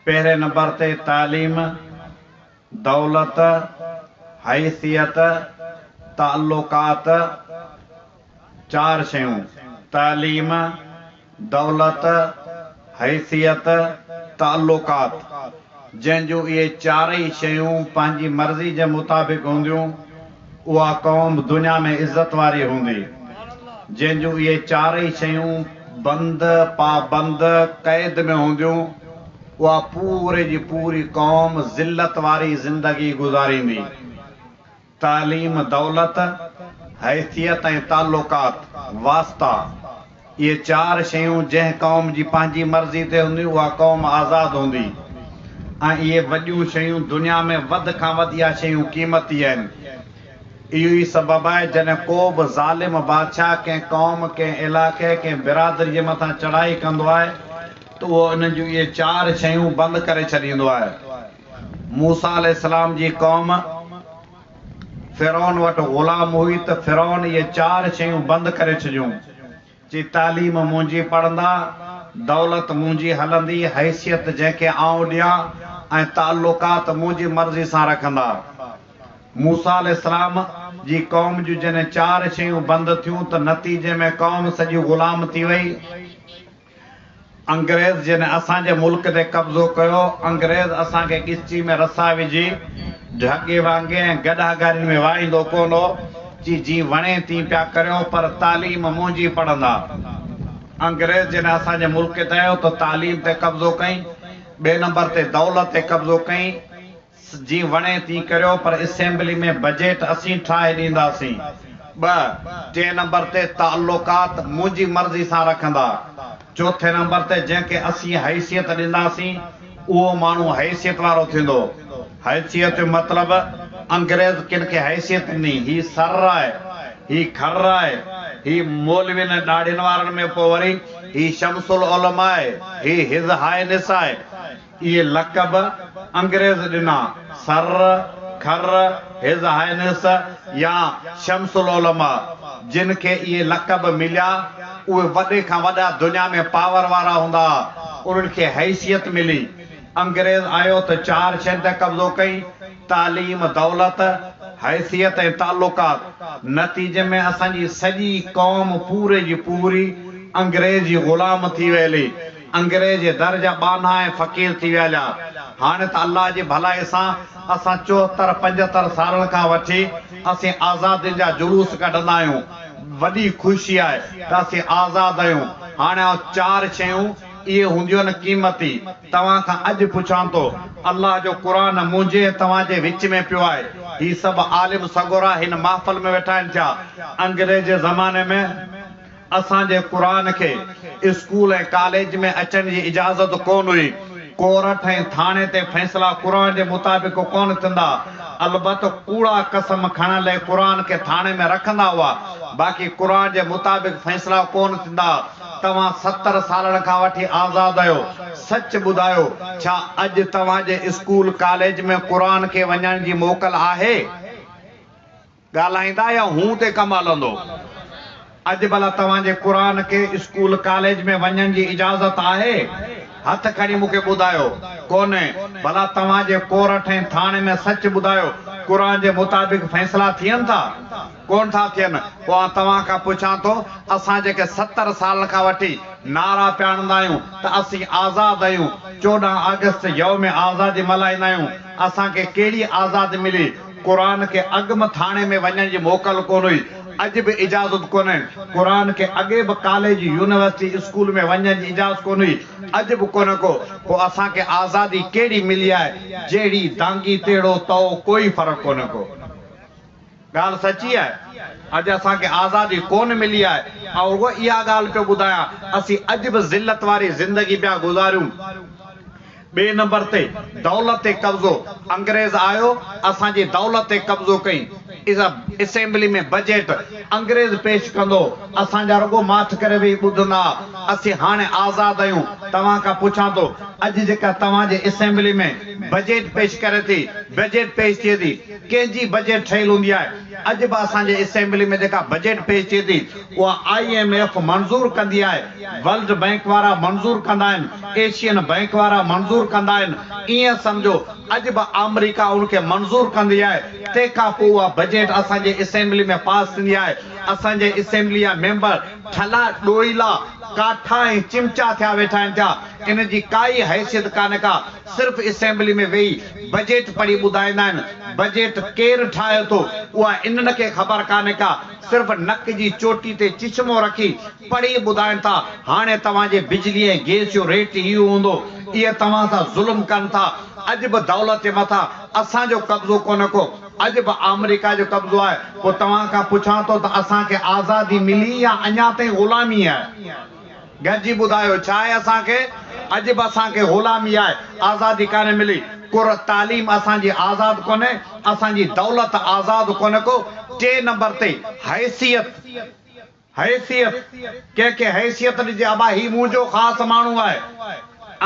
پهرين نمبر تي تعليم، دولت، حيثيت، تعلقات، چار شيون، تعليم، دولت، حيثيت، تعلقات، جنهن جون اهي چارئي شيون پنهنجي مرضي جي مطابق هونديون، اها قوم دنيا ۾ عزت واري هوندي، جنهن جون اهي چارئي شيون بند، پابند، قيد ۾ هونديون، اها پوري جي پوري قوم ذلت واري زندگي گذاريندي. تعليم، دولت، حيثيت ۽ تعلقات، واسطا. اهي چار شيون جنهن قوم جي پنهنجي مرضي تي هونديون اها قوم آزاد هوندي ۽ اهي وڏيون شيون دنيا ۾ وڌ کان وڌ اها شيون قيمتي آهن. اهو ئي سبب آهي جڏهن ڪو به ظالم بادشاهه ڪنهن قوم، ڪنهن علائقي، ڪنهن برادري جي مٿان چڙهائي ڪندو آهي ته اهو انهن جون اهي چار شيون بند ڪري ڇڏيندو آهي. موسيٰ عليه السلام جي قوم. فرعون وٽ غلام هئي ته فرعون اهي چار شيون بند ڪري ڇڏيون. چي تعليم منهنجي پڙهندا، دولت منهنجي هلندي، حيثيت جنهن کي آئون ڏيان ۽ تعلقات منهنجي مرضي سان رکندا. موسيٰ عليه السلام جي قوم جون جڏهن چار شيون بند ٿيون ته نتيجي ۾ قوم سڄي غلام ٿي وئي. انگريز جنھن اسان جي ملڪ تي قبضو ڪيو، انگريز اسان کي ڳچي ۾ رسا وجھي، ڍڳي وانگي ۽ گڏھا گارين ۾ واھيندو ڪونه ھو، چي جيئن وڻي تيئن پيا ڪريون، پر تعليم منھنجي پڙھندا. انگريز جنھن اسان جي ملڪ تي آيو ته تعليم تي قبضو ڪئين، ٻئي نمبر تي دولت تي قبضو ڪئين، جي وڻي تي ڪريو پر اسيمبلي ۾ بجيٽ اسين ٺاهي ڏينداسين. ٻه، ٽئين نمبر تي تعلقات منهنجي مرضي سان رکندا. چوٿين نمبر تي جنهن کي اسين حيثيت ڏينداسين اهو ماڻهو حيثيت وارو ٿيندو. حيثيت جو مطلب انگريز ڪن کي حيثيت ڏني هي سر آهي هي کر آهي هي مولوين ۽ ڏاڙهين وارن ۾ پوء وري هي شمس العلماء آهي هي هز هاء نس آهي اهي لقب انگريز ڏنا، سر، خر، هز هائنس يا شمس العلماء، جن کي اهي لقب مليا، اهي وڏي کان وڏا دنيا ۾ پاور وارا هوندا ها، انهن کي حيثيت ملي، انگريز آيو ته چار شين تي قبضو ڪيئي، تعليم، دولت، حيثيت ۽ تعلقات، نتيجي ۾ اسان جي سڄي قوم پوري جي پوري انگريز جي غلام ٿي ويلي. انگريز جي در جا ٻانها ۽ فقير ٿي ويا ليا. هاڻي ته الله جي ڀلائي سان اسان چوهتر پنجهتر سالن کان وٺي اسين آزادين جا جلوس ڪڍندا آهيون. وڏي خوشي آهي ته اسين آزاد آهيون. هاڻي آئون چار شيون اهي هونديون قيمتي توهان کان اڄ پڇان ٿو. الله جو قرآن منهنجي ۽ توهان جي وچ ۾ پيو آهي. هي سڀ عالم سڳورا هن محفل ۾ ويٺا آهن ڇا؟ انگريز جي زماني ۾. اسان جي قرآن کي اسڪول ۽ ڪاليج ۾ اچڻ جي اجازت ڪونه هئي. ڪورٽ ۽ ٿاڻي تي فيصلا قرآن جي مطابق ڪونه ٿيندا. البت ڪوڙا قسم کڻڻ لئي قرآن کي ٿاڻي ۾ رکندا هئا. باقي قرآن جي مطابق فيصلا ڪونه ٿيندا. توهان ستر سالن کان وٺي آزاد آهيو. سچ ٻڌايو ڇا اڄ توهان جي اسڪول ڪاليج ۾ قرآن کي وڃڻ جي موڪل آهي؟ ڳالهائيندا يا هون تي ڪم هلندو. اڄ ڀلا توهان جي قرآن کي اسڪول ڪاليج ۾ وڃڻ جي اجازت آهي؟ هٿ کڻي مون کي ٻڌايو. ڪونهي. ڀلا توهان جي ڪورٽ ۽ ٿاڻي ۾ سچ ٻڌايو قرآن جي مطابق فيصلا ٿين ٿا؟ ڪونه ٿا ٿين. پوء آئون توهان کان پڇان ٿو اسان جيڪي ستر سالن کان وٺي نعرا پيا هڻندا آهيون ته اسين آزاد آهيون، چوڏهن آگسٽ يوم آزادي ملهائيندا آهيون، اسان کي ڪهڙي آزادي ملي؟ قرآن کي اڳ به ٿاڻي ۾ وڃڻ جي موڪل ڪونه هئي، اڄ به اجازت ڪونه. قرآن کي اڳي به ڪاليج، يونيورسٽي، اسڪول ۾ وڃڻ جي اجازت ڪونه هئي، اڄ به ڪونه ڪو. پوء اسان کي آزادي ڪهڙي ملي آهي؟ جهڙي دانگي تهڙو تئو ڪوئي فرق ڪونه ڪو. ڳالهه سچي آهي. اڄ اسان کي آزادي ڪونه ملي آهي. آئون رڳو اها ڳالهه پيو ٻڌايان، اسين اڄ به ذلت واري زندگي پيا گذاريون. ٻئي نمبر تي دولت تي قبضو، انگريز آيو اسان جي دولت تي قبضو ڪئي، اسيمبلي ۾ بجيٽ انگريز پيش ڪندو، اسان جا رڳو ماٺ ڪري ويهي ٻڌندا ها، اسين هاڻي آزاد آهيون، توهان کان پڇان ٿو اڄ جيڪا توهان جي اسيمبلي ۾ بجيٽ پيش ڪري ٿي، بجيٽ پيش ٿئي ٿي، ڪنهن جي بجيٽ ٺهيل هوندي آهي، اڄ به اسان جي اسيمبلي ۾ جيڪا بجيٽ پيش ٿئي ٿي اها آء ايم ايف منظور ڪندي آهي، ورلڊ بئنڪ وارا منظور ڪندا آهن، ايشين بئنڪ وارا منظور ڪندا آهن، ائين سمجهو اڄ به آمريڪا ان کي منظور ڪندي آهي، تنهن کان پوء اها بجيٽ اسان جي اسيمبلي ۾ پاس ٿيندي آهي، اسان جي اسيمبلي جا ميمبر ٺلا ڏوئيلا، ڪاٺا ۽ چمچا ٿيا ويٺا آهن پيا، ان جي ڪا ئي حيثيت ڪانه ڪا، صرف اسيمبلي ۾ ويهي بجيٽ پڙهي ٻڌائيندا آهن، بجيٽ ڪير ٺاهي ٿو اها انهن کي خبر ڪانه ڪا، صرف نڪ جي چوٽي تي چشمو رکي پڙهي ٻڌائين ٿا هاڻي توهان جي بجلي ۽ گئس جو ريٽ ئي اهو هوندو اهي توهان سان ظلم ڪن ٿا اڄ به دولت جي مٿان اسان جو قبضو ڪونه ڪو اڄ به آمريڪا جو قبضو آهي پوء توهان کان پڇان ٿو ته اسان کي آزادي ملي يا اڃا تائين غلامي آهي گڏجي ٻڌايو ڇا آهي اسان کي اڄ به اسان کي غلامي آهي آزادي ڪانه ملي ڪر تعليم اسان جي آزاد ڪونه اسان جي دولت آزاد ڪونه ڪو ٽي نمبر تي حيثيت حيثيت، ڪنهن کي حيثيت ڏجي ابا هي منهنجو خاص ماڻهو آهي.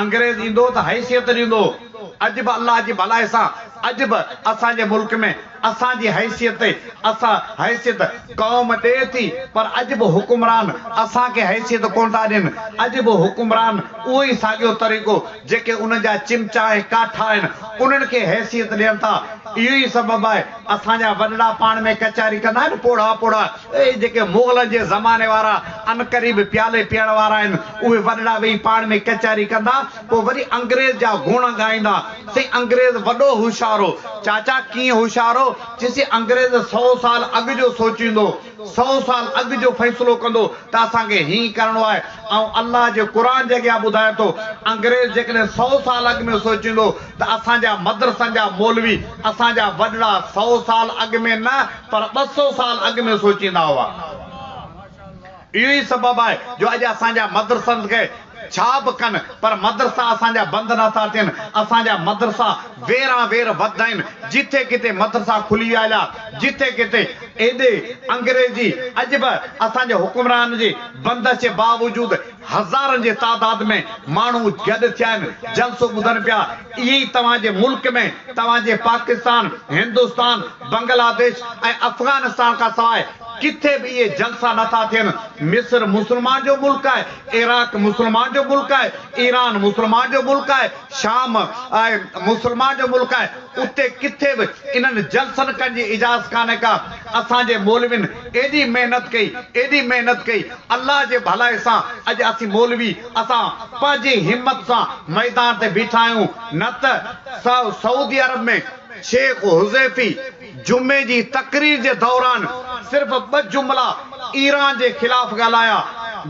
انگريز ايندو ته حيثيت ڏيندو هو. اڄ به الله جي ڀلائي سان اڄ به اسان جي ملڪ ۾ اسان جي حيثيت تي اسان حيثيت قوم ڏئي ٿي پر اڄ به حڪمران اسان کي حيثيت ڪونه ٿا ڏين. اڄ به حڪمران اهو ئي ساڳيو طريقو جيڪي انهن جا چمچا ۽ ڪاٺا آهن انهن کي حيثيت ڏين ٿا. اهو ئي سبب آهي اسان جا وڏڙا پاڻ ۾ ڪچهري ڪندا آهن پوڙها پوڙها. اهي جيڪي مغلن جي زماني وارا عنقريب پيالي پيئڻ وارا آهن، اهي وڏڙا ويهي پاڻ ۾ ڪچهري ڪندا، پوء وري انگريز جا گڻ ڳائيندا، سائين انگريز وڏو هوشيار هو. چاچا، ڪيئن هوشيار هو؟ چيسي انگريز سؤ سال اڳ جو سوچيندو، سؤ سال اڳ جو فيصلو ڪندو ته اسان کي هيئن ڪرڻو آهي. آئون الله جي قرآن جي اڳيان ٻڌايان ٿو، انگريز جيڪڏهن سؤ سال اڳ ۾ سوچيندو، ته اسان جا مدرسن جا مولوي اسان جا وڏڙا سئو سال اڳ ۾ نه پر ٻه سئو سال اڳ ۾ سوچيندا هئا. اهو ئي سبب آهي جو اڄ اسان جا مدرسن کي ڇا به ڪن پر مدرسا اسان جا بند نه ٿا ٿين. اسان جا مدرسا ويران وير وڌ آهن. جتي ڪٿي مدرسا کلي ويا هيا، جتي ڪٿي ايڏي انگريزي اڄ به اسان جي حڪمرانن جي بندش جي باوجود، هزارن جي تعداد ۾ ماڻهو گڏ ٿيا آهن، جلسو ٻڌن پيا. ائين ئي توهان جي ملڪ ۾ توهان جي پاڪستان، هندستان، بنگلاديش ۽ افغانستان کان سواء ڪٿي به اهي جلسا نه ٿا ٿين. مصر مسلمان جو ملڪ آهي، عراق مسلمان جو ملڪ آهي، ايران مسلمان جو ملڪ آهي، شام آهي مسلمان جو ملڪ آهي، اتي ڪٿي به انهن جلسن ڪن جي اجاز ڪانهي ڪا، اسان جي مولوين ايڏي محنت ڪئي، ايڏي محنت ڪئي، الله جي ڀلائي سان اڄ اسين مولوي اسان پنهنجي همت سان ميدان تي بيٺا آهيون، نه ته سعودي عرب ۾ شيخ حذيفي، جمعي جي تقرير جي دوران صرف ٻه جملا ايران جي خلاف ڳالهايا،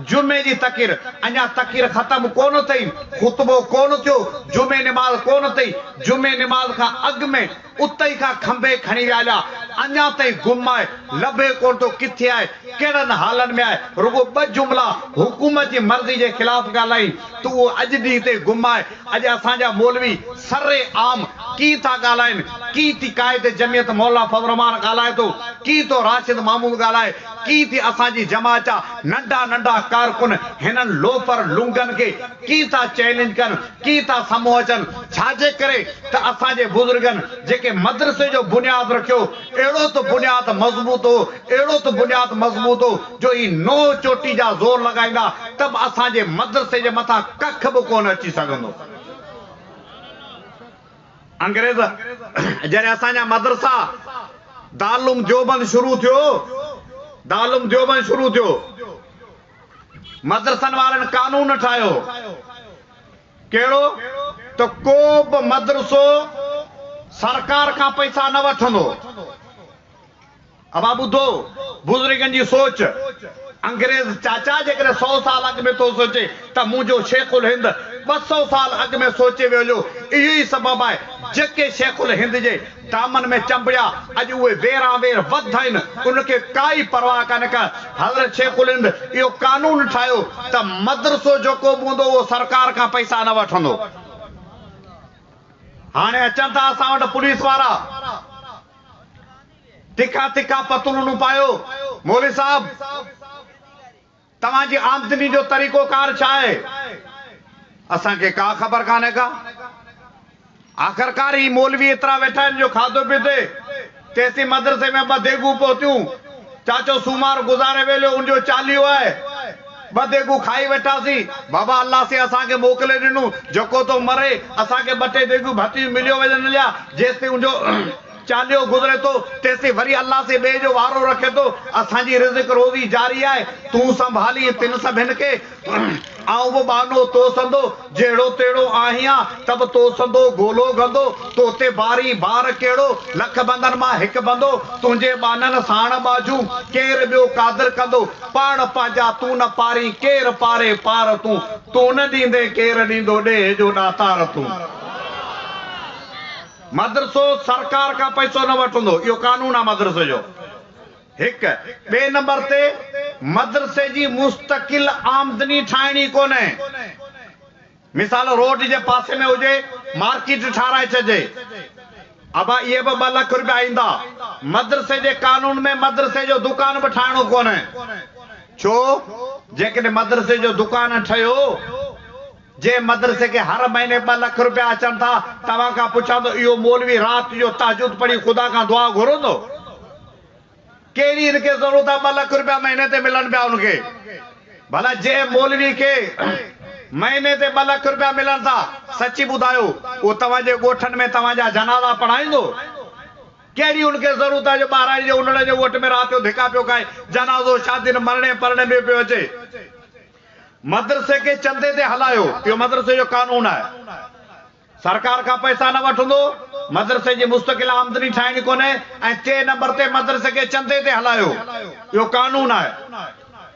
جمعي جي تقير اڃا تقرير ختم ڪونه ٿئي، خطبو ڪونه ٿيو، جمعي نماز ڪونه ٿئي، جمعي نماز کان اڳ ۾ اتي کان کنڀي کڻي ويا ليا، اڃا تائين گم آهي، لڀي ڪونه ٿو ڪٿي آهي، ڪهڙن حالن ۾ آهي، رڳو ٻه جملا حڪومت جي مرضي جي خلاف ڳالهايائين ته اهو اڄ ڏينهن تائين گم آهي، اڄ اسان جا مولوي سر عام ڪي ٿا ڳالهائين، ڪي ٿي قائد جمعيت مولانا فضل الرحمان ڳالهائي ٿو، ڪي ٿو راشد محمود ڳالهائي، ڪي ٿي اسان جي جماعت جا ننڍا ننڍا ڪارڪن هنن لوفر لونگن کي ڪي ٿا چئلينج ڪن، ڪي ٿا سمهو اچن، ڇاجي ڪري ته اسان جي بزرگن جيڪي مدرسي جو بنياد رکيو اهڙو ته بنياد مضبوط هو اهڙو ته بنياد مضبوط هو جو هي نوح چوٽي جا زور لڳائيندا ته به اسان جي مدرسي جي مٿان ڪک به ڪونه اچي سگهندو. انگريز جڏهن اسان جا مدرسا دارالعلوم ديوبند شروع ٿيو دارالعلوم ديوبند شروع ٿيو مدرسن وارن قانون ٺاهيو ڪهڙو ته ڪو به مدرسو سرڪار کان پئسا نه وٺندو. ابا ٻڌو بزرگن جي سوچ، انگريز چاچا جيڪڏهن سؤ سال اڳ ۾ ٿو سوچي ته منهنجو شيخ الهند ٻه سؤ سال اڳ ۾ سوچي ويو جو اهو ئي سبب آهي جيڪي شيخ الهند جي دامن ۾ چنبڙيا اڄ اهي ويران وير وڌ آهن ان کي ڪائي پرواهه ڪانه ڪا حضرت شيخ الهند اهو قانون ٺاهيو ته مدرسو جيڪو به هوندو اهو سرڪار کان پئسا نه وٺندو هاڻي اچن ٿا اسان وٽ پوليس وارا. تکا تکا پتلونون پايو مولوي صاحب توهان جي آمدني جو طريقو ڪار ڇا آهي اسان کي ڪا خبر ڪانهي ڪا آخرڪار هي مولوي ايترا ويٺا آهن جو کاڌو پيتي تيستائين مدرسي ۾ ٻه ديڳون پهتيون چاچو سومار گذاري ويليو ان جو چاليهو آهي ٻه ديڳون کائي ويٺاسين بابا الله سين اسان کي موڪلي ڏنون جيڪو ٿو مري اسان کي ٻه ٽي ديڳون ڀتيون مليو وڃن هليا جيستائين ان جو چاليهو گذري ٿو تيسين وري الله سين ٻئي جو وارو رکي ٿو اسان جي رزق روزي جاري آهي تون سنڀالين تن سڀن کي آئون به ٻانهو تو سندو جهڙو تهڙو آهيان ته به تو سندو گولو گندو تو تي بارين بار ڪهڙو لک بندن مان هڪ بندو تنهنجي ٻانهن ساڻ ٻاجهون ڪير ٻيو قادر ڪندو پاڻ پنهنجا تون نه پارين ڪير پاري پار تون تون نه ڏيندين ڪير ڏيندو ڏيهه جو ڏاتار تون. مدرسو سرڪار کان پئسو نه وٺندو اهو قانون آ مدرسي جو هڪ ٻئي نمبر تي مدرسي جي مستقل آمدني ٺاهڻي ئي ڪونه مثال روڊ جي پاسي ۾ هجي مارڪيٽ ٺارائي ڇڏجي اڀا اهي به ٻه لک روپيا ايندا مدرسي جي قانون ۾ مدرسي جو دڪان به ٺاهڻو ڪونه ڇو جيڪڏهن مدرسي جو دڪان ٺهيو جنهن مدرسي کي هر مهيني ٻه لک روپيا اچن ٿا، توهان کان پڇان ٿو اهو مولوي رات جو تهجد پڙهي خدا کان دعا گهرندو؟ ڪهڙي ان کي ضرورت آ ٻه لک روپيا مهيني تي ملن پيا ان کي؟ ڀلا جنهن مولوي کي مهيني تي ٻه لک روپيا ملن ٿا سچي ٻڌايو اهو توهان جي ڳوٺن ۾ توهان جا جنازا پڙهائيندو؟ ڪهڙي ان کي ضرورت آ جو ٻهراڙي جي انڙ جي ڳوٺ ۾ رات جو ڌڪا پيو کائي، جنازو شادين مرڻي پرڻي ۾ پيو اچي. مدرسي کي چندي تي هلايو اهو مدرسي جو قانون آهي سرڪار کان پئسا نه وٺندو مدرسي جي مستقل آمدني ٺاهڻي ڪونهي ۽ ٽي نمبر تي مدرسي کي چندي تي هلايو اهو قانون آهي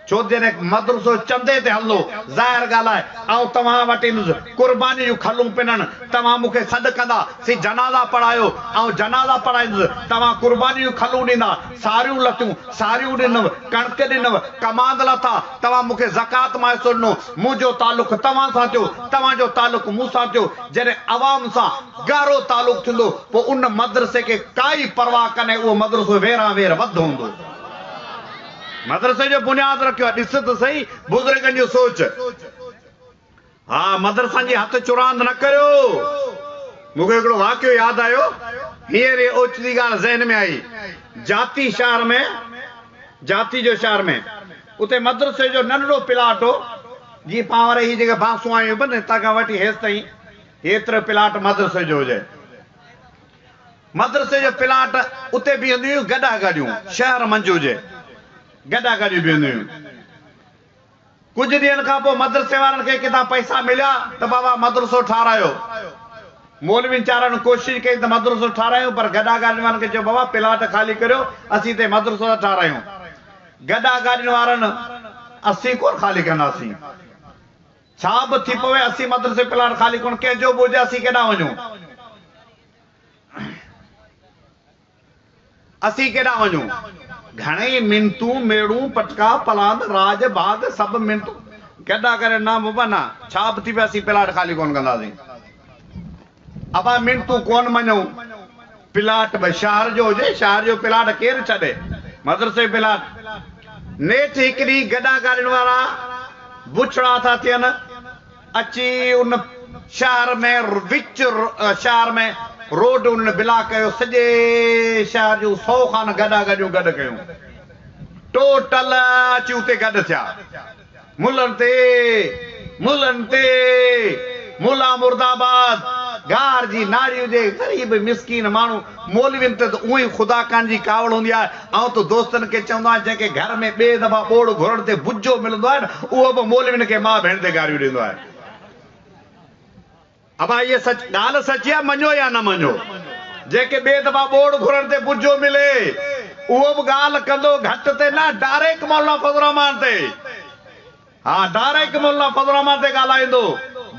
ڇو ته جڏهن مدرسو چندي تي هلندو ظاهر ڳالهه آهي آئون توهان وٽ ايندس قرباني جون کلون پنڻ توهان مون کي سڏ ڪندا سي جنازا پڙهايو آئون جنازا پڙهائيندس توهان قرباني جون کلون ڏيندا ساريون لتون، ساريون ڏنؤ، ڪڻڪ ڏنؤ، ڪماند لاٿا، توهان مون کي زڪوات مان حصو ڏنو، منهنجو تعلق توهان سان ٿيو، توهان جو تعلق مون سان ٿيو، جڏهن عوام سان ڳاڙهو تعلق ٿيندو پوء ان مدرسي کي ڪائي پرواهه ڪانهي اهو مدرسو ويران وير وڌ هوندو. مدرسي جو بنياد رکيو آهي ڏس ته سهي بزرگن جو سوچ. ها مدرسن جي هٿ چراند نه ڪريو. مون کي هڪڙو واقعو ياد آيو. هينئر ئي اوچتي ڳالهه ذهن ۾ آئي. جاتي شهر ۾ جاتي جو شهر ۾ اتي مدرسي جو ننڍڙو پلاٽ هو. جي پانور هي جيڪي باسون آيون پيون هتان کان وٺي هيستائين هيترو پلاٽ مدرسي جو هجي. مدرسي جو پلاٽ اتي بيهنديون هيون گڏا گاڏيون شهر منجهه هجي. گڏا گاڏيون بيهنديون هيون. ڪجهه ڏينهن کان پوء مدرسي وارن کي ڪٿان پئسا مليا ته بابا مدرسو ٺاهرايو. مولوين چارن ڪوشش ڪئي ته مدرسو ٺاهرايون پر گڏا گاڏين وارن کي چيو بابا پلاٽ خالي ڪريو اسين اتي مدرسو ٿا ٺاهرايون. گڏا گاڏين وارن اسين ڪونه خالي ڪنداسين. ڇا به ٿي پوي اسين مدرسي جو پلاٽ خالي ڪونه ڪنهن جو به هجي اسين ڪيڏانهن وڃون. اسين ڪيڏانهن وڃون؟ گهڻيئي منتون، ميڙون، پٽڪا، پلاند، راڄ، ڀاڳ، سڀ منتون گڏا ڪري نه بابا نه، ڇا به ٿي پئي اسين پلاٽ خالي ڪونه ڪنداسين. ابا منتون ڪونه مڃون، پلاٽ به شهر جو هجي، شهر جو پلاٽ ڪير ڇڏي، مدرسي جو پلاٽ. نيٺ هڪ ڏينهن گڏا ڪارين وارا بڇڙا ٿا ٿين. اچي ان شهر ۾ وچ شهر ۾ روڊ انهن بلاڪ ڪيو سڄي شهر جون سو خان گڏا گڏيون گڏ ڪيون ٽوٽل اچي اتي گڏ ٿيا ملن تي ملن تي ملا مرداباد گهار جي ناڙي هجي غريب مسڪين ماڻهو مولوين تي ته اونء ئي خدا ڪان جي ڪاوڙ هوندي آهي. آئون ته دوستن کي چوندو آهيان جنهن کي گهر ۾ ٻئي دفعا ٻوڙ گهرڻ تي بجو ملندو آهي نه اهو به مولوين کي ماء ڀيڻ تي گاريون ڏيندو آهي. ابا هيء سچ ڳالهه سچي آهي مڃو يا نه مڃو. جنهن کي ٻئي دفعا ٻوڙ گهرڻ تي بجو ملي اهو به ڳالهه ڪندو گهٽ تي نه ڊاريڪ مولانا فضل الرحمان تي. ها ڊاريڪ مولانا فضل الرحمان تي ڳالهائيندو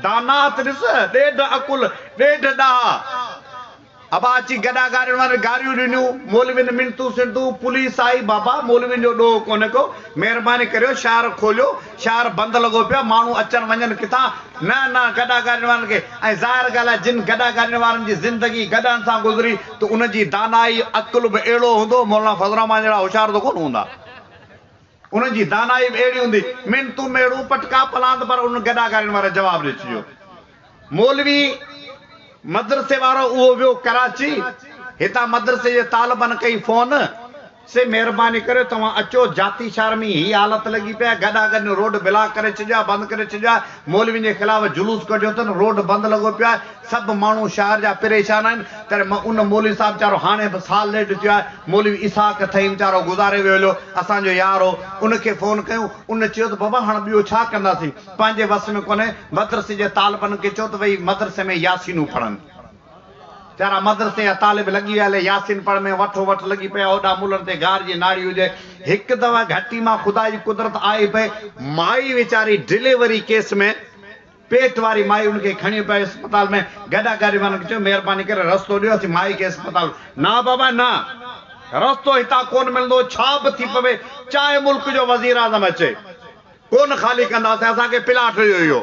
داناهت ڏس ڏيڍ عقل ڏيڍ ڏاها ابا اچي گڏا گاڏين وارن گاريون ڏنيون مولوين منتون سنتون پوليس آئي بابا مولوين جو ڏوهه ڪونه ڪو مهرباني ڪريو شهر کوليو شهر بند لڳو پيو آ ماڻهو اچن وڃن ڪٿان نه نه گڏا گاڏين وارن کي ۽ ظاهر ڳالهه آ جن گڏا گاڏين وارن جي زندگي گڏهن سان گذري ته ان جي دانائي عقل به اهڙو هوندو مولانا فضل الرحمان جهڙا هوشيار ته ڪونه هوندا. انهن جي دانائي به اهڙي هوندي، من تون ميڙون پٽڪا پلاند پر انهن گڏا ڳارين واري جواب ڏئي ڇڏيو. مولوي مدرسي وارو اهو ويو ڪراچي، هتان مدرسي جي طالبن ڪئي فون. سي مهرباني ڪريو توهان اچو، جاتي شهر ۾ هي حالت لڳي پئي آهي، گڏا ڳرين روڊ بلاڪ ڪري ڇڏيو آهي، بند ڪري ڇڏيو آهي، مولوين جي خلاف جلوس ڪڍيو اٿن، روڊ بند لڳو پيو آهي، سڀ ماڻهو شهر جا پريشان آهن تڏهن م ان مولوي صاحب ويچارو هاڻي به سال ڏيڍ ٿيو آهي مولوي اسحاق ٿهيم ويچارو گذاري ويو هليو اسان جو يار هو ان کي فون ڪيون ان چيو ته بابا هاڻ ٻيو ڇا ڪنداسين پنهنجي وس ۾ ڪونهي مدرسي جي طالبن کي چئو ته ويهي مدرسي ۾ ياسينون پڙهن ويچارا مدرسي جا طالب لڳي ويا هلي ياسين پڙهڻ ۾ وٺو وٺ لڳي پئي هوڏانهن ملن تي گار جي ناڙي هجي هڪ دفعي گهٽي مان خدا جي قدرت آئي پئي مائي ويچاري ڊليوري ڪيس ۾ پيٽ واري مائي ان کي کڻي پئي اسپتال ۾ گڏا ڪري وڃڻ چيو مهرباني ڪري رستو ڏيو اسين مائي کي اسپتال نه بابا نه رستو هتان ڪون ملندو ڇا به ٿي پوي چاهي ملڪ جو وزير اعظم اچي ڪون خالي ڪنداسين اسان کي پلاٽ ڏيو اهو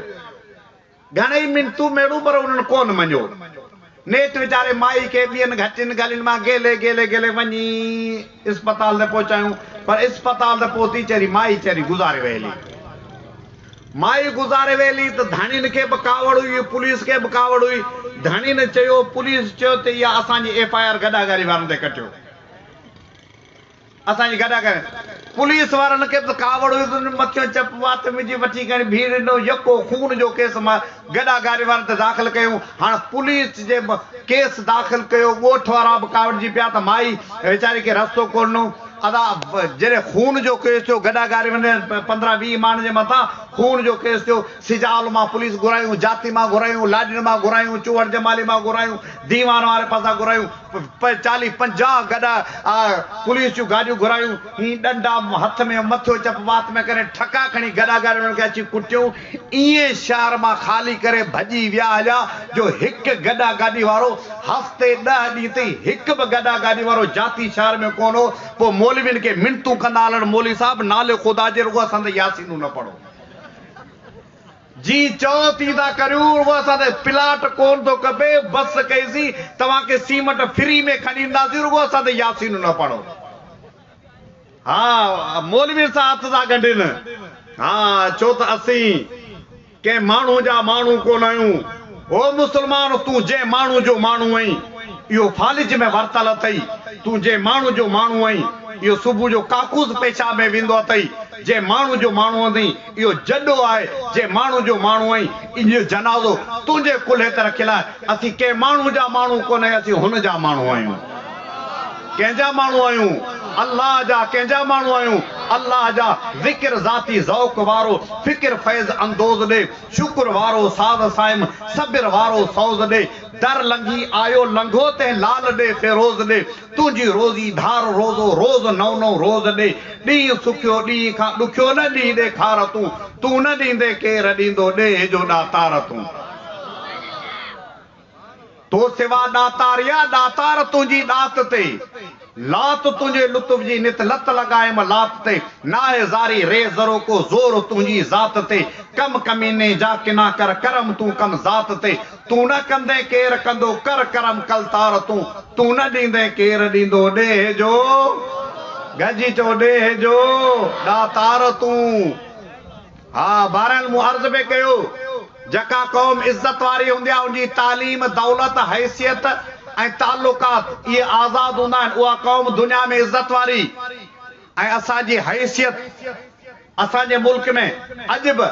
گهڻئي منتون ميڙون پر انهن ڪون مڃيو نيٺ ويچاري مائي کي ٻين گهٽين گلين مان گيلي گيلي گيلي وڃي اسپتال تي پهچايون پر اسپتال ته پهتي چري مائي چري گذاري ويلي. مائي گذاري ويلي ته ڌڻين کي به ڪاوڙ هئي پوليس کي به ڪاوڙ هئي ڌڻين چيو پوليس چيو ته اها اسان جي ايف آء آر گڏاگاري وارن تي ڪٽيو. اسان جي گڏا ڪري پوليس وارن کي به ڪاوڙ هئي تن مٿيون چپ وات وجهي وٺي کڻي ڀيڙي ڏنو يڪو خون جو ڪيس مان گڏا گاري وارن تي داخل ڪيون هاڻ پوليس جي ڪيس داخل ڪيو ڳوٺ وارا به ڪاوڙجي پيا ته مائي ويچاري کي رستو ڪو ڏنو ادا جڏهن خون جو ڪيس ٿيو گڏا گاري وارن پندرهن ويهه ماڻهن جي مٿان خون جو ڪيس ٿيو سجال مان پوليس گهرايون جاتي مان گهرايون لاڏين مان گهرايون چوهڙ جمالي مان گهرايون ديوان واري پاسان گهرايون پوء چاليهه پنجاهه گڏا پوليس جون گاڏيون گهرايون. هين ڏنڊا هٿ ۾ مٿيو چپ وات ۾ ڪري ٺڪا کڻي گڏا گڏ انهن کي اچي ڪٽيون. ائين شهر مان خالي ڪري ڀڄي ويا هليا جو هڪ گڏا گاڏي وارو هفتي ڏهه ڏينهن تائين هڪ به گڏا گاڏي وارو جاتي شهر ۾ ڪونه هو. پوء مولوين کي منتون ڪندا هلڻ مولوي صاحب نالي خدا جي رڳو اسان تي ياسينون نه پڙهو. جي چئو تي ٿا ڪريون اهو اسان تي پلاٽ ڪون ٿو کپي بس ڪئيسين توهان کي سيمٽ فري ۾ کڻي ڏينداسين رڳو اسان تي ياسينون نه پڙهو ها مولوي سان هٿ ٿا ڳنڍين ها ڇو ته اسين ڪنهن ماڻهو جا ماڻهو ڪون آهيون هو مسلمان تون جنهن ماڻهو جو ماڻهو آهين اهو فالج ۾ ورتل اٿئي تون جنهن ماڻهو جو ماڻهو آهين اهو صبح جو ڪاڪوس پيشاب ۾ ويندو اٿئي جنهن ماڻهو جو ماڻهو آهين اهو جڏو آهي جي ماڻهو جو ماڻهو آهين ان جو جنازو تنهنجي ڪلهي تي رکيل آهي اسين ڪنهن ماڻهو جا ماڻهو ڪونهي اسين هن جا ماڻهو آهيون ڪنهن جا ماڻهو آهيون الله جا ڪنهن جا ماڻهو آهيون الله جا ذڪر ذاتي ذوق وارو فڪر فيض اندوز ڏي شڪر وارو ساز صائم صبر وارو سوز ڏي در لنگهي آيو لنگهو تنهن لال ڏي فيروز ڏي تنهنجي روزي ڌار روزو روز نئون نئون روز ڏي ڏينهن سکيو ڏينهن کان ڏکيو نه ڏينهن ڏيکار تون تون نه ڏيندين ڪير ڏيندو ڏيهه جو ڏاتار تون تو سوا ڏاتار يا ڏاتار تنهنجي ڏات تي لات تنهنجي لطف جي نت لت لڳايم لات تي ناهي زاري ري ذرو ڪو زور تنهنجي ذات تي ڪم ڪميني جا ڪنا ڪر ڪرم تون ڪم ذات تي تون نه ڪندين ڪير ڪندو، ڪر ڪرم ڪل تار تون، تون نه ڏيندين ڪير ڏيندو، ڏيهه جو گهجي چئو ڏيهه جو ڏاتار تون. ها بهرحال مون عرض به ڪيو جيڪا قوم عزت واري هوندي آهي ان جي تعليم، دولت، حيثيت ۽ تعلقات اهي آزاد هوندا آهن اها قوم دنيا ۾ عزت واري ۽ اسان جي حيثيت، اسان جي ملڪ ۾ اڄ به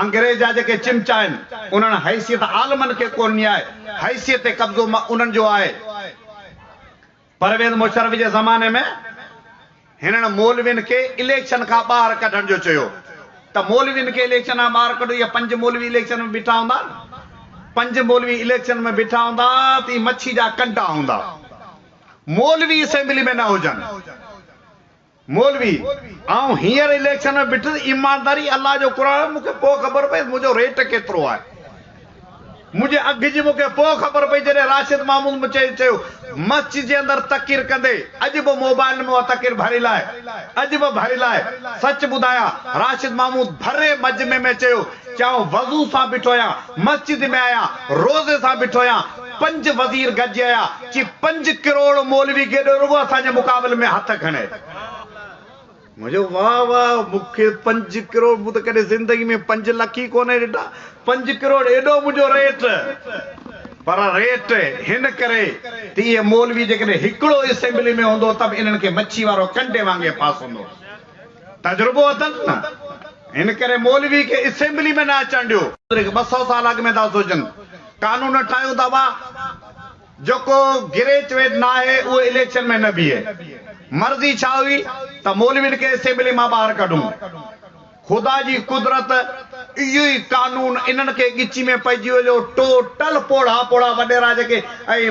انگريز جا جيڪي چمچا آهن انهن حيثيت عالمن کي ڪو ڏني آهي، حيثيت تي قبضو انهن جو آهي. پرويز مشرف جي زماني ۾ هنن مولوين کي اليڪشن کان ٻاهر ڪڍڻ جو چيو ته مولوين کي اليڪشن کان ٻاهر ڪڍو اهي پنج مولوي اليڪشن ۾ بيٺا هوندا پنج مولوي اليڪشن ۾ بيٺا هوندا ته اهي مڇي جا ڪنڊا هوندا مولوي اسيمبلي ۾ نه هجن. مولوي، آئون هينئر اليڪشن ۾ بيٺس، ايمانداري الله جو قرآن آهي، مون کي پوء خبر پئي ته منهنجو ريٽ ڪيترو آهي. منهنجي اگهه جي مون کي پوء خبر پئي جڏهن راشد محمود مون کي چيو مسجد جي اندر تقرير ڪندي اڄ به موبائيل ۾ اها تقرير ڀريل آهي، اڄ به ڀريل آهي. سچ ٻڌايان راشد محمود ڀرئي مجمع ۾ چيو ته آئون وضو سان بيٺو آهيان، مسجد ۾ آهيان، روزي سان بيٺو آهيان، پنج وزير گڏجي آيا چي پنج ڪروڙ مولوي گيڏو رڳو اسان جي مقابل ۾ هٿ کڻي. مون چيو واه واه مون کي پنج ڪروڙ مون ته ڪڏهن زندگي ۾ پنج لک ئي ڪونه ڏٺا پنج ڪروڙ ايڏو منهنجو ريٽ پر ريٽ هن ڪري ته اهي مولوي جيڪڏهن هڪڙو اسيمبلي ۾ هوندو ته به انهن کي مڇي وارو ڪنڊي وانگي ڦاسندو. تجربو اٿن نه ان ڪري مولوي کي اسيمبلي ۾ نه اچڻ ڏيو. ٻه سؤ سال اڳ ۾ ٿا سوچن قانون ٺاهيون ٿا وا جيڪو گريچويٽ ناهي اهو اليڪشن ۾ نه بيهي مرضي ڇا هئي ته مولوين کي اسيمبلي مان ٻاهر ڪڍون خدا جي قدرت اهو ئي قانون انهن کي ڳچي ۾ پئجي ويو ٽوٽل پوڙها پوڙها وڏيرا جيڪي اهي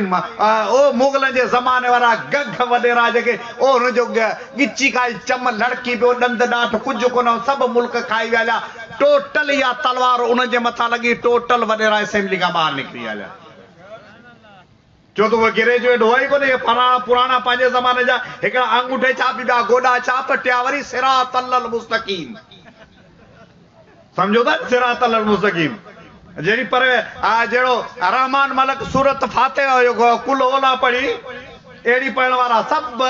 اهو مغلن جي زماني وارا گگهه وڏيرا جيڪي اهو ان جو ڳچي کائي چم لڙڪي پيو، ڏند ڏاٺ ڪجهه ڪونه هو، سڀ ملڪ کائي ويا هليا، ٽوٽل اها تلوار انهن جي مٿان لڳي، ٽوٽل وڏيرا اسيمبلي کان ٻاهر نڪري ويا هليا. ڇو ته اهي گريجوئيٽ هئا ئي ڪونه، اهي پراڻا پراڻا پنهنجي زماني جا، هڪڙا آنگوٺي ڇاپ، ٻيا گوڏا ڇاپ، ٽيا وري صراط الله المستقيم. سمجهو ٿا نه صراط المستقيم جهڙي پر آء جهڙو رحمان ملڪ سورت فاتحه هيو قل هو الله پڙهي اهڙي پڙهڻ وارا سڀ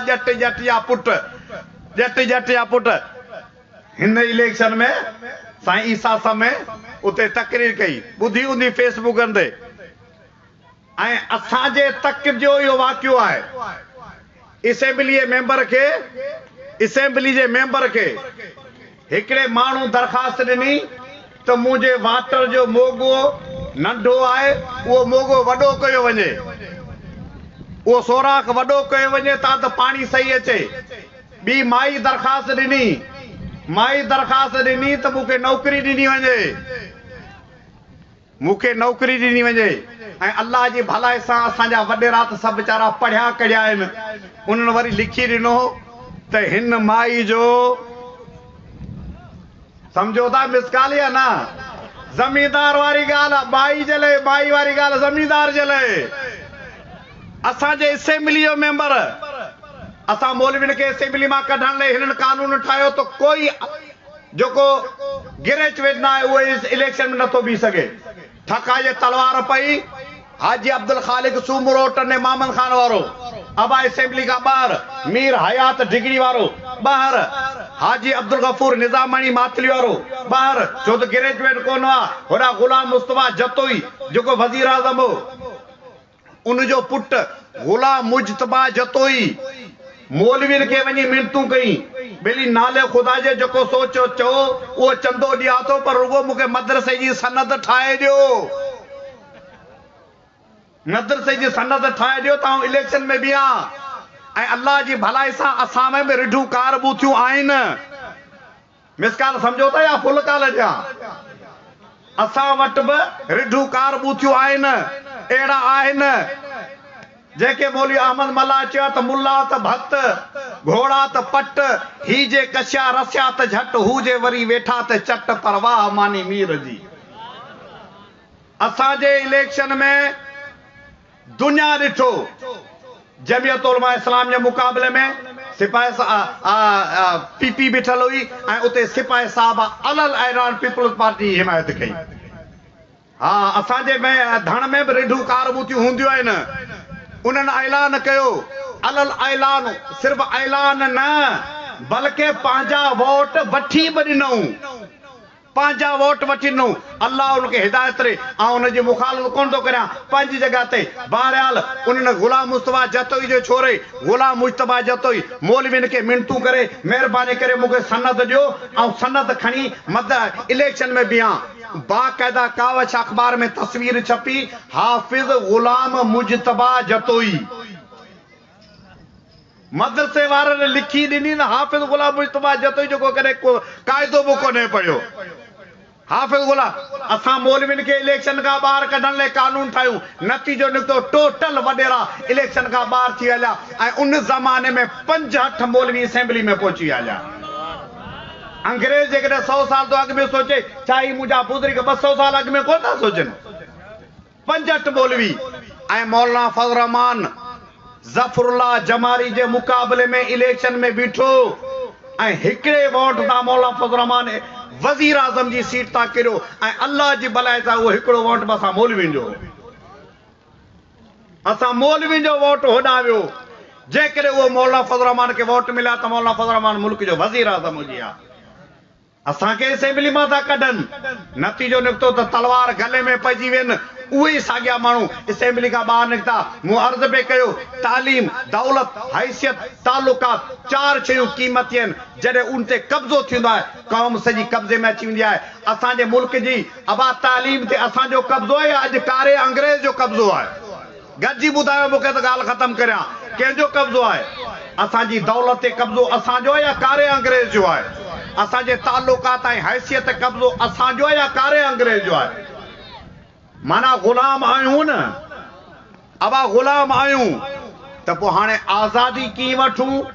ڄٽ ڄٽ يا پٽ ڄٽ ڄٽ يا پٽ هن اليڪشن ۾ سائين عيسيٰ سمي اتي تقرير ڪئي ٻڌي هوندي فيس بڪن تي. ۽ اسان جي تڪ جو اهو واقعو آهي اسيمبلي جي ميمبر کي اسيمبلي جي ميمبر کي هڪڙي ماڻهو درخواست ڏني ته منهنجي واٽر جو موگو ننڍو آهي اهو موگو وڏو ڪيو وڃي اهو سوراخ وڏو ڪيو وڃي تان ته پاڻي صحيح اچي ٻي مائي درخواست ڏني مائي درخواست ڏني ته مون کي نوڪري ڏني وڃي. مون کي نوڪري ڏني وڃي ۽ الله جي ڀلائي سان اسان جا وڏيرا ته سڀ ويچارا پڙهيا ڪڙهيا آهن انهن وري لکي ڏنو هو ته هن مائي جو سمجهو ٿا مس ڪال يا نه زميندار واري ڳالهه مائي جي لئي مائي واري ڳالهه زميندار جي لئي اسان جي اسيمبلي جو ميمبر اسان مولوين کي اسيمبلي مان ڪڍڻ لئي هنن قانون ٺاهيو ته ڪوئي جيڪو گريچويٽ نه آهي اهو اس اليڪشن ۾ نٿو بيهي سگهي. ٺڪاء جي تلوار پئي. حاجي عبدالخالق سومرو، ٽنڊي محمد خان وارو، ابا اسيمبلي کان ٻاهر، مير حيات ڊگهڙي وارو، ٻاهر، حاجي عبدالغفور نظاماڻي ماتلي وارو، ٻاهر، ڇو ته گريچويٽ ڪونه هئا. هوڏانهن غلام مصطفيٰ جتوئي، جيڪو وزيراعظم هو. ان جو پٽ غلام مجتبيٰ جتوئي مولوين کي وڃي منتون ڪيون، ٻيلي نالي خدا جي جيڪو سو چئو، اهو چندو ڏيان ٿو، پر رڳو مون کي مدرسي جي سند ٺاهي ڏيو. مدرسي جي سند ٺاهي ڏيو ته آئون اليڪشن ۾ بيهان ۽ الله جي ڀلائي سان اسان ۾ به رڍون ڪاربون ٿيون آهن. مس ڪال سمجهو ٿا يا فل ڪال جيان؟ اسان وٽ به رڍون ڪار ٻوٿيون آهن، اهڙا آهن جيڪي مولوي احمد ملاح چيو ته ملاح ته ڀت، گهوڙا ته پٽ، هي جي ڪشيا رسيا ته جهٽ، هو جي وري ويٺا ته چٽ، پر واهه ماني مير جي. اسان جي اليڪشن ۾. دنيا ڏٺو جمعيت علماء اسلام جي مقابلي ۾ سپاهي سا آ آ پي پي بيٺل هئي ۽ اتي سپاهي صاحب الل ايران پيپلز پارٽي جي حمايت ڪئي ها اسان جي ۾ ڌڻ ۾ به رڍون ڪارموتيون هونديون آهن انهن اعلان ڪيو الل اعلان صرف اعلان نه بلڪه پنهنجا ووٽ وٺي به ڏنئون. پنهنجا ووٽ وٺي ڏنو. الله ان کي هدايت ڏي. آئون ان جي مخالفت ڪونه ٿو ڪريان. پنهنجي جڳهه تي. بهرحال انهن غلام مصطفيٰ جتوئي جي ڇوري غلام مجتبيٰ جتوئي مولوين کي منتون ڪري مهرباني ڪري مون کي سند ڏيو آئون سند کڻي مدء اليڪشن ۾ بيهان. باقاعده ڪاوش اخبار ۾ تصوير ڇپي حافظ غلام مجتبيٰ جتوئي. مدرسي وارن لکي ڏني ته حافظ غلام مجتبيٰ جتوئي جو ڪو ڪڏهن ڪو قاعدو به ڪونهي پڙهيو. حافظ غلام، اسان مولوين کي اليڪشن کان ٻاهر ڪڍڻ لئه قانون ٺاهيون. نتيجو نڪتو ٽوٽل وڏيرا اليڪشن کان ٻاهر ٿي هليا ۽ ان زماني ۾ پنج هٺ مولوي اسيمبلي ۾ پهچي هليا. انگريز جيڪڏهن سؤ سال تو اڳ ۾ سوچي ڇا هي منهنجا بزرگ ٻه سؤ سال اڳ ۾ ڪونه ٿا سوچن. پنجٽ مولوي ۽ مولانا فضل الرحمان ظفر الله جماري جي مقابلي ۾ اليڪشن ۾ بيٺو ۽ هڪڙي ووٽ تان مولانا فضل الرحمان وزيراعظم جي سيٽ تان ڪريو ۽ الله جي ڀلائي سان اهو هڪڙو ووٽ به اسان مولوين جو هو. اسان مولوين جو ووٽ هوڏانهن ويو. جيڪڏهن اهو مولانا فضل الرحمان کي ووٽ ملي ها ته مولانا فضل الرحمان ملڪ جو وزيراعظم هجي ها. اسان کي اسيمبلي مان ٿا ڪڍن. نتيجو نڪتو ته تلوار گلي ۾ پئجي وين. اهي ئي ساڳيا ماڻهو اسيمبلي کان ٻاهر نڪتا. مون عرض پئي ڪيو، تعليم، دولت، حيثيت، تعلقات، چار شيون قيمتي آهن. جڏهن ان تي قبضو ٿيندو آهي، قوم سڄي قبضي ۾ اچي ويندي آهي. اسان جي ملڪ جي ابا تعليم تي اسان جو قبضو آهي يا اڄ ڪاري انگريز جو قبضو آهي؟ گڏجي ٻڌايو مون کي ته ڳالهه ختم ڪريان، ڪنهن جو قبضو آهي؟ اسان جي دولت تي قبضو اسان جو آهي يا ڪاري انگريز جو آهي؟ اسان جي تعلقات ۽ حيثيت تي قبضو اسان جو آهي يا ڪاري انگريز جو آهي؟ معنيٰ غلام آهيون نه؟ اوهان غلام آهيون ته پوء هاڻي آزادي ڪيئن وٺون؟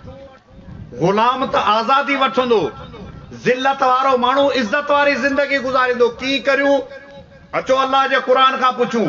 غلام ته آزادي وٺندو، ذلت وارو ماڻهو عزت واري زندگي گذاريندو، ڪيئن ڪريون؟ اچو الله جي قرآن کان پڇون.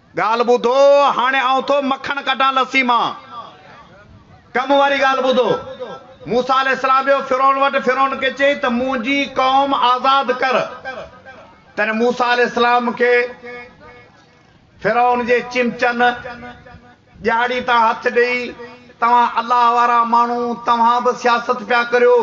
ڳالهه ٻڌو، هاڻي آئون ٿو مکڻ ڪڍان لسي مان. ڪم واري ڳالهه ٻڌو. موسيٰ عليه السلام ويو فرعون وٽ، فرعون کي چيائين ته منهنجي قوم آزاد ڪر. تڏهن موسيٰ عليه السلام کي فرعون جي چمچن، ڄاڙي تان هٿ ڏيئي، توهان الله وارا ماڻهو، توهان به سياست پيا ڪريو.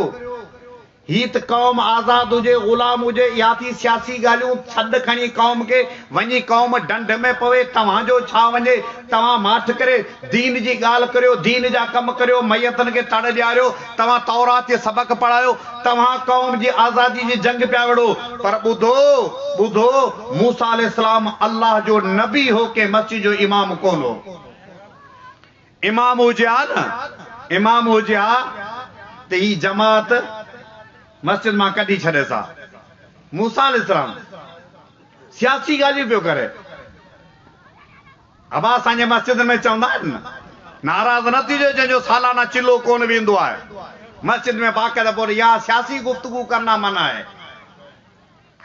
هي ته قوم آزاد هجي غلام هجي اها ٿي سياسي ڳالهيون سڏ کڻي قوم کي وڃي قوم ڍنڍ ۾ پوي توهان جو ڇا وڃي توهان ماٺ ڪري دين جي ڳالهه ڪريو دين جا ڪم ڪريو ميتن کي تڙ ڏياريو توهان تورات جي سبق پڙهايو توهان قوم جي آزادي جي جنگ پيا وڙهو پر ٻڌو ٻڌو موسيٰ عليه السلام الله جو نبي هو ڪنهن مسجد جو امام ڪونه هو. امام هجي ها نه امام هجي ها ته هي جماعت مسجد مان ڪڍي ڇڏيس ها. موسيٰ عليه السلام سياسي ڳالهيون پيو ڪري. ابا اسان جي مسجدن ۾ چوندا آهن نه ناراض نه ٿجو جنهن جو سالانه چلو ڪونه ويندو آهي. مسجد ۾ باقاعده پوء اها سياسي گفتگو ڪرنا منع آهي.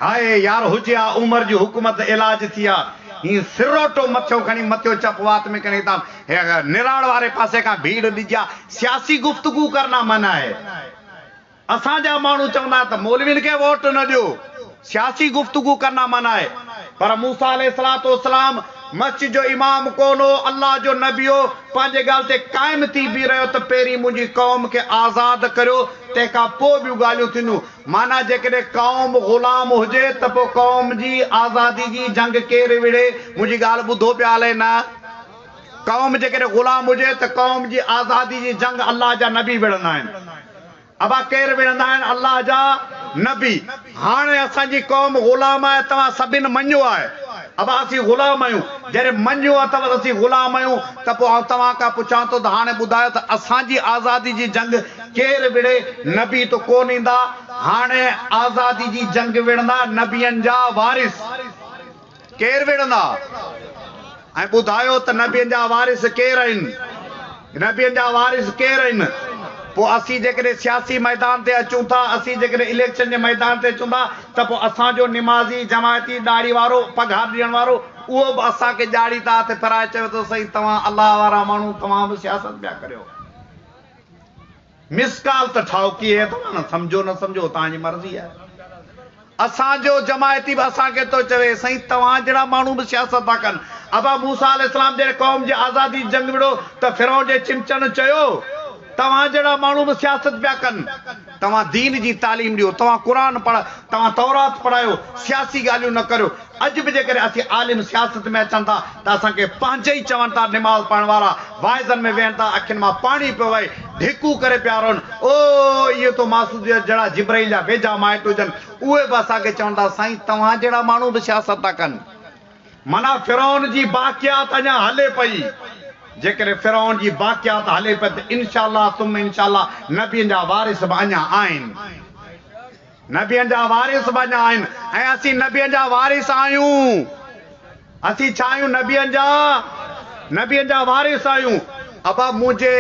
هائي يار هجي آ عمر جي حڪومت علاج ٿي آ هي سروٽو مٿيو کڻي مٿيو چپ وات ۾ کڻي تام هي نراڙ واري پاسي کان ڀيڙ ڏجي آ سياسي گفتگو ڪرنا منع هي اسان جا ماڻهو چوندا آهن ته مولوين کي ووٽ نه ڏيو سياسي گفتگو ڪرنا منع هي پر موسيٰ عليه الصلوة والسلام مسجد جو امام ڪون هو الله جو نبي هو پنهنجي ڳالهه تي قائم ٿي بيهه رهيو ته پهرين منهنجي قوم کي آزاد ڪريو تنهن کان پوء ٻيون ڳالهيون ٿينديون معنيٰ جيڪڏهن قوم غلام هجي ته پوء قوم جي آزادي جي جنگ ڪير وڙهي؟ منهنجي ڳالهه ٻڌو پيا الئي نه؟ قوم جيڪڏهن غلام هجي ته قوم جي آزادي جي جنگ الله جا نبي وڙهندا آهن. ابا ڪير وڙهندا آهن؟ الله جا نبي. هاڻي اسان جي قوم غلام آهي توهان سڀن مڃيو آهي. ابا اسين غلام آهيون. جڏهن مڃيو اٿئو ته اسين غلام آهيون ته پوء آئون توهان کان پڇان ٿو ته هاڻي ٻڌايو ته اسان جي آزادي جي جنگ ڪير وڙهي، نبي ته ڪونه ايندا، هاڻي آزادي جي جنگ وڙهندا نبين جا وارث ڪير وڙهندا ۽ ٻڌايو ته نبين جا وارث ڪير آهن، نبين جا وارث ڪير آهن، پوء اسين جيڪڏهن سياسي ميدان تي اچون ٿا، اسين جيڪڏهن اليڪشن جي ميدان تي اچون ٿا ته پوء اسان جو نمازي، جماعتي، ڏاڙهي وارو، پگهار ڏيڻ وارو اهو به اسان کي ڄاڙي ٿا هٿ ڦيرائي چوي ٿو سائين توهان الله وارا ماڻهو توهان به سياست پيا ڪريو. مس ڪال ته ٺاهوڪي هي توهان سمجهو نه سمجهو اوتان جي مرضي آهي اسان جو جماعتي به اسان کي ٿو چوي سائين توهان جهڙا ماڻهو به سياست ٿا ڪن ابا موسيٰ عليه السلام جڏهن قوم جي آزادي جي جنگ وڙهيو ته فرعون جي چمچن چيو توهان جهڙا ماڻهو به سياست پيا ڪن توهان دين جي تعليم ڏيو، توهان قرآن پڙهه، توهان تورات پڙهايو، سياسي ڳالهيون نه ڪريو. اڄ به جيڪڏهن اسين عالم سياست ۾ اچن ٿا ته اسان کي پنهنجي ئي چون ٿا نماز پڙهڻ وارا واعظن ۾ ويهن ٿا اکين مان پاڻي پيو وهي ڍيڪون ڪري پيا روئن او اهي تو ماسوسيت جهڙا جبرائيل جا ويجها مائٽ هجن اهي به اسان کي چون ٿا سائين توهان جهڙا ماڻهو به سياست ٿا ڪن. معنيٰ فرعون جي باقيات اڃا هلي پئي. جيڪڏهن فرعون جي باقيات هلي پئي ته انشاء الله ثم انشاء الله نبين جا وارث به اڃا آهن. نبين جا وارث به اڃا آهن ۽ اسين نبين جا وارث آهيون. اسين ڇا آهيون نبين جا نبين جا وارث آهيون. ابا منهنجي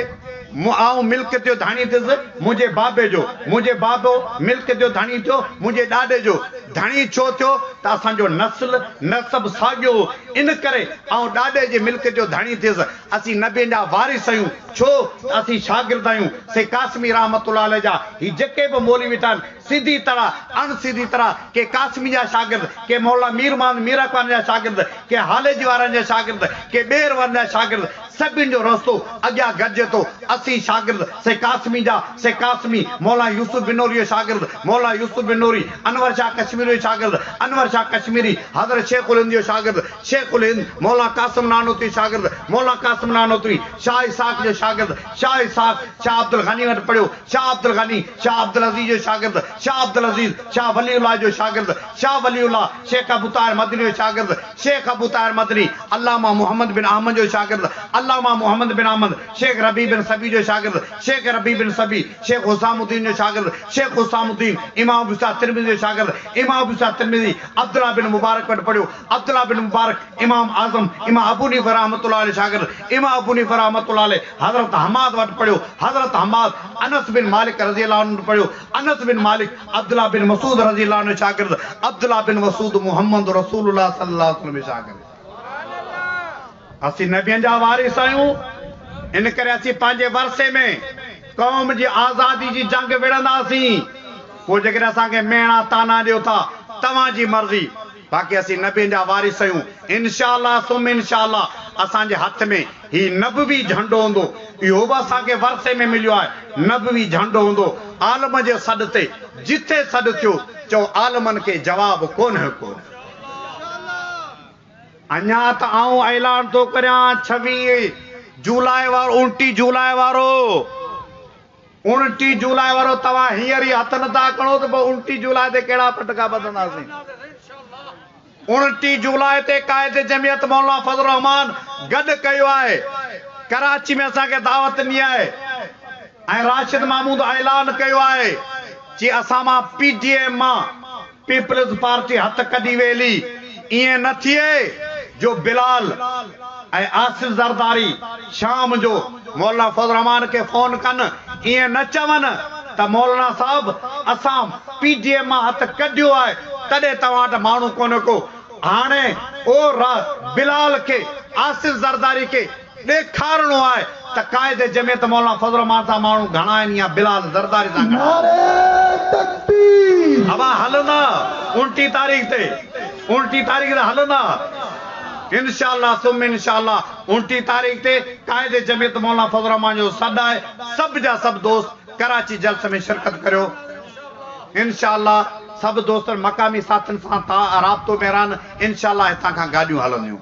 م آئون ملڪ تيو ڌڻي ٿيس منهنجي بابي جو منهنجي بابو ملڪ تيو ڌڻي ٿيو منهنجي ڏاڏي جو ڌڻي ڇو ٿيو ته اسان جو نسل نسب ساڳيو هو ان ڪري آئون ڏاڏي جي ملڪ تيو ڌڻي ٿيس اسين نبين جا وارث اهيون ڇو ته اسين شاگرد اهيون سي قاسمي رحمة الله عليه جا هي جيڪي به مولوي ويٺا آهن سڌي طرح، اڻ سڌي طرح، ڪي قاسمي جا شاگرد، ڪي مولانا مير محمد مير اخواني جا شاگرد، ڪي هاليجي وارن جا شاگرد، ڪي ٻيهر وارن جا شاگرد، سڀني جو رستو اڳيان گڏجي ٿو. اسين شاگرد سي قاسمي جا، سي قاسمي، مولانا يوسف بنوري جو شاگرد، مولانا يوسف بنوري، انور شاهه ڪشميري جو شاگرد، انور شاهه ڪشميري، حضرت شيخ الهند جو شاگرد، شيخ الهند، مولانا قاسم نانوتوي جو شاگرد، مولانا قاسم نانوتوي، شاهه اسحاق جو شاگرد، شاهه اسحاق، شاهه عبدالغني وٽ پڙهيو، شاهه عبدالغني، شاهه عبدالعزيز جو شاگرد، شاهه عبدالعزيز، شاهه ولي الله جو شاگرد، شاهه ولي الله، شيخ ابوطاهر مدني جو شاگرد، شيخ ابوطاهر مدني، علامه محمد بن احمد جو شاگرد، علامه محمد بن احمد، شيخ ربيع بن صبيح جو شاگرد، شيخ ربيع بن صبيح، شيخ حسام الدين جو شاگرد، شيخ حسام الدين، امام ابواسحاق ترمذي جو شاگرد، امام ابواسحاق ترمذي، عبدالله بن مبارڪ وٽ پڙهيو، عبدالله بن مبارڪ، امام اعظم، امام ابو حنيفه رحمة الله عليه شاگرد امام ابو حنيفه رحمة الله عليه حضرت حماد وٽ پڙهيو، حضرت حماد انس بن مالڪ رضي الله عنه وٽ پڙهيو، انس بن مالڪ عبدالله بن مسعود رضي الله عنه جو شاگرد، عبدالله بن مسعود محمد رسول الله صلي الله عليه وسلم جو شاگرد. اسين نبين جا وارث آهيون، ان ڪري اسين پنهنجي ورثي ۾ قوم جي آزادي جي جنگ وڙهنداسين، پوء جيڪڏهن اسان کي ميڻا طعنا ڏيو ٿا، توهان جي مرضي. باقي اسين نبين جا وارث اهيون انشاء الله ثم انشاء الله اسان جي هٿ ۾ هي نبوي جهنڊو هوندو اهو به اسان کي ورثي ۾ مليو آهي نبوي جهنڊو هوندو عالم جي سڏ تي جتي سڏ ٿيو چئو عالمن کي جواب ڪونه ڪونه اڃا ته آئون اعلان ٿو ڪريان ڇويهه جولاء وارو انٽيهه جولاء وارو. اڻٽيهه جولاء وارو توهان هينئر ئي هٿ نٿا کڻو ته پوء اڻٽيهه جولاء تي ڪهڙا پٽڪا ٻڌنداسين. اڻٽيهه جولاء تي قائد جمعيت مولانا فضل الرحمان گڏ ڪيو آهي. ڪراچي ۾ اسان کي دعوت ڏني آهي ۽ راشد محمود اعلان ڪيو آهي جي اسان مان پي ڊي ايم مان پيپلز پارٽي هٿ ڪڍي ويلي، ائين نه ٿئي جو بلال ۽ آصف زرداري شام جو مولانا فضل الرحمان کي فون ڪن ائين نه چون ته مولانا صاحب اسان پي ڊي ايم مان هٿ ڪڍيو آهي تڏهن توهان وٽ ماڻهو ڪونه ڪو هاڻي او را بلال کي آصف زرداري کي ڏيکارڻو آهي ته قائد جمعيت مولانا فضل الرحمان سان ماڻهو گهڻا آهن يا بلال زرداري سان گهڻا آهن. نعري تڪبير. اوهان هلندا الٽي تاريخ تي. الٽي تاريخ تي هلندا. انشاء الله ثم انشاء الله الٽي تاريخ تي قائد جمعيت مولانا فضل الرحمان جو سڏ آهي سڀ جا سڀ دوست ڪراچي جلسي ۾ شرڪت ڪريو انشاء الله سڀ دوستن مقامي ساٿين سان تا رابطو ۾ رهن انشاء الله هتان کان گاڏيون هلنديون.